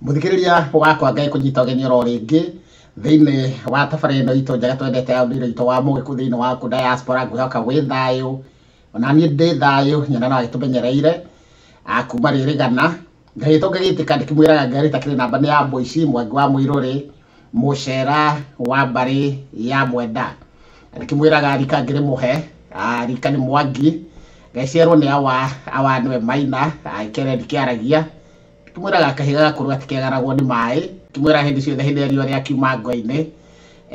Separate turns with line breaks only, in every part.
muthikiriria wakwa ngai kunyita ugeni oro ringi thiini wa tabara ino itu njega twendete ya ndire itu wa mugiku thiini wa ku diaspora ngwihoka wi thayu ona nie ndi thayu nyina no agitumenyereire kuma riri gana ngai itu ngigitika ndikimwiraga ngari takiri namba ni ya mbuici mwangi wa mwiruri mucera wa mbari ya mwenda ndikimwiraga rika ngiri muhe rika ni mwangi ngeciarwo ni awa awa niwe maina ikere ndikiaragia Kĩmwĩraga kahiga gakũrũ gatikĩagaragwo nĩ maĩ, kĩmwĩraga hĩndĩ ciothe hĩndĩ ĩrĩa riũa rĩakiuma ngwa-inĩ,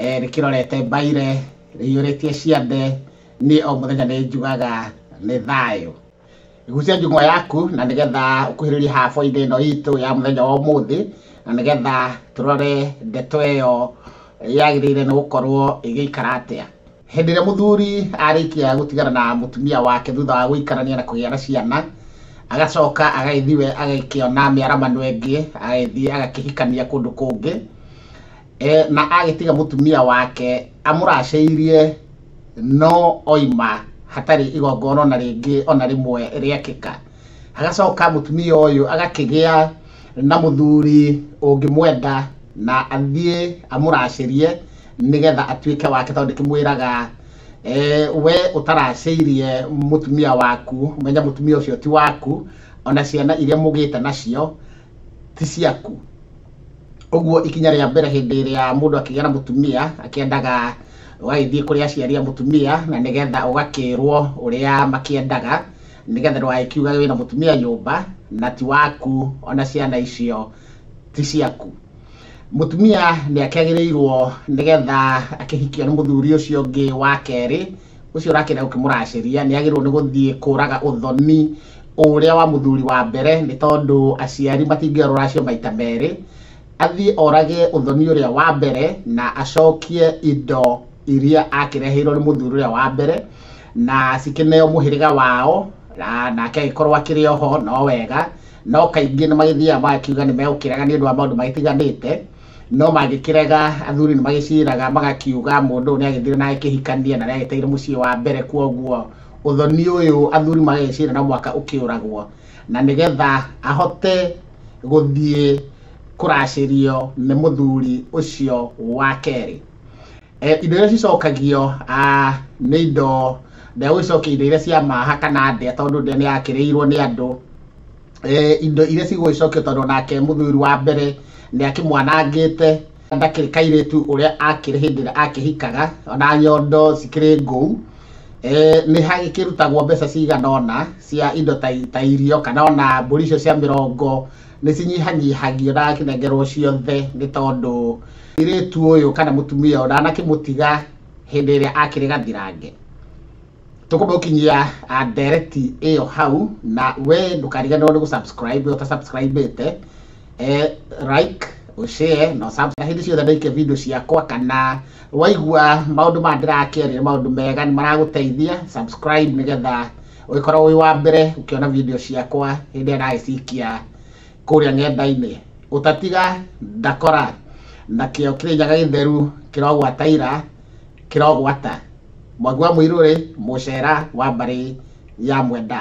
eh, rĩkĩrorete mbaire, rĩiyũrĩtie ciande, niĩ o mũthenya nĩ njugaga nĩ thayũ. Gucia njung'wa yaku na nĩgetha ũkuhĩrĩrie habo-inĩ ĩno itũ ya mũthenya wa ũmũthĩ, na nĩgetha tũrore ndeto ĩyo yagĩrĩire nĩ gũkorwo ĩgĩikara atĩa. Hĩndĩ ĩrĩa mũthuri arĩkia gũtigana na mũtumia wake thutha wa gũikarania na kũgĩa na ciana, agacoka agagĩthiĩ we agakĩona mĩaramano ĩngĩ, agagĩthiĩ agakĩhikania kũndũ kũngĩ, e, na agĩtiga mũtumia wake amũracĩirie no oima hatarĩ igongona ona rĩngĩ ona rĩmwe rĩakĩka. Agacoka mũtumia ũyũ agakĩgĩa na mũthuri ũngĩmwenda na athiĩ amũracĩrie nĩgetha atuĩke wake tondũ ndĩkĩmwĩraga eh, we ũtaracĩirie mũtumia waku menya mũtumia ũcio ti waku ona ciana iria mũgĩte nacio ti ciaku ũguo ikinya rĩa mbere hĩndĩ ĩrĩa mũndũ akĩgĩa na mũtumia akĩendaga ũgagĩthiĩ kũrĩa aciari a mũtumia na nĩgetha ũgakĩrwo ũrĩa makĩendaga nĩgetha ndũgagĩkiuga wĩna mũtumia nyũmba na ti waku ona ciana icio ti ciaku Mũtumia nĩ akĩagĩrĩirwo nĩgetha akĩhikio nĩ mũthuri ũcio ũngĩ wa kerĩ, ũcio ũrakĩenda gũkĩmũracĩria, nĩ agĩrĩirwo nĩ gũthiĩ kũraga ũthoni ũrĩa wa mũthuri wa mbere, nĩ tondũ aciari matingĩoya rũracio maita merĩ. Athiĩ orage ũthoni ũrĩa wa mbere, na acokie indo iria akĩreheirwo nĩ mũthuri ũrĩa wa mbere, na cikĩneo mũhĩrĩga wao, nake agĩkorwo akĩrĩ oho no wega. No kaingĩ nĩ magĩthiaga magakiuga nĩ megũkĩrega nĩ ũndũ wa maũndũ magĩtiganĩte, no mangĩkĩrega athuri nĩ magĩciraga magakiuga mũndũ ũyũ nĩ agĩthire na agĩkĩhikania na nĩ agĩteire mũciĩ wa mbere, kwoguo ũthoni ũyũ athuri magagĩcira no mũhaka ũkĩũragwo, na nĩgetha ahote gũthiĩ kũracĩrio nĩ mũthuri ũcio wa kerĩ. Eh, indo iria cicokagio ah, nĩ indo ndegũ icokia indo iria cia maha kana ndĩa tondũ ndĩa nĩ yakĩrĩirwo nĩ andũ Eh, indo iria cigũgĩcokio tondũ nake mũthuri wa mbere nĩ akĩmwanangĩte ndakĩrĩ kairĩtu ũrĩa akĩrĩ hĩndĩ ĩrĩa akĩhikaga ona nyondo cikĩrĩ ngũu Eh, nĩ hagĩkĩrutagwo mbeca cigana ũna cia indo ta, ta irio kana ona mbũri icio cia mĩrongo nĩ cinyihanyihagio na akinengerwo ciothe nĩ tondũ irĩtu ũyũ kana mũtumia ũyũ ndanakĩmũtiga hĩndĩ ĩrĩa akĩrĩ gathirange tũkũmũkinyia ah, ndereti ĩyo hau na we ndũkariganĩrwo nĩ gũsubscribe we ũtasubscribĩte eh, like ũshare na ũsub- na hĩndĩ ciothe ndaikia video ciakwa kana waigua maũndũ maya ndĩrakĩaria nĩ maũndũ mega nĩ maragũteithia subscribe nĩgetha ũgĩkorwo wĩ wa mbere ũkĩona video ciakwa hĩndĩ ĩrĩa ndagĩcikia kũrĩa ng'enda-inĩ ũtatiga ndakora na kĩo kĩrĩnyaga gĩtheru kĩrogwataira kĩrogwata mwangi wa mũirũrĩ mũcera wa mbarĩ ya mwenda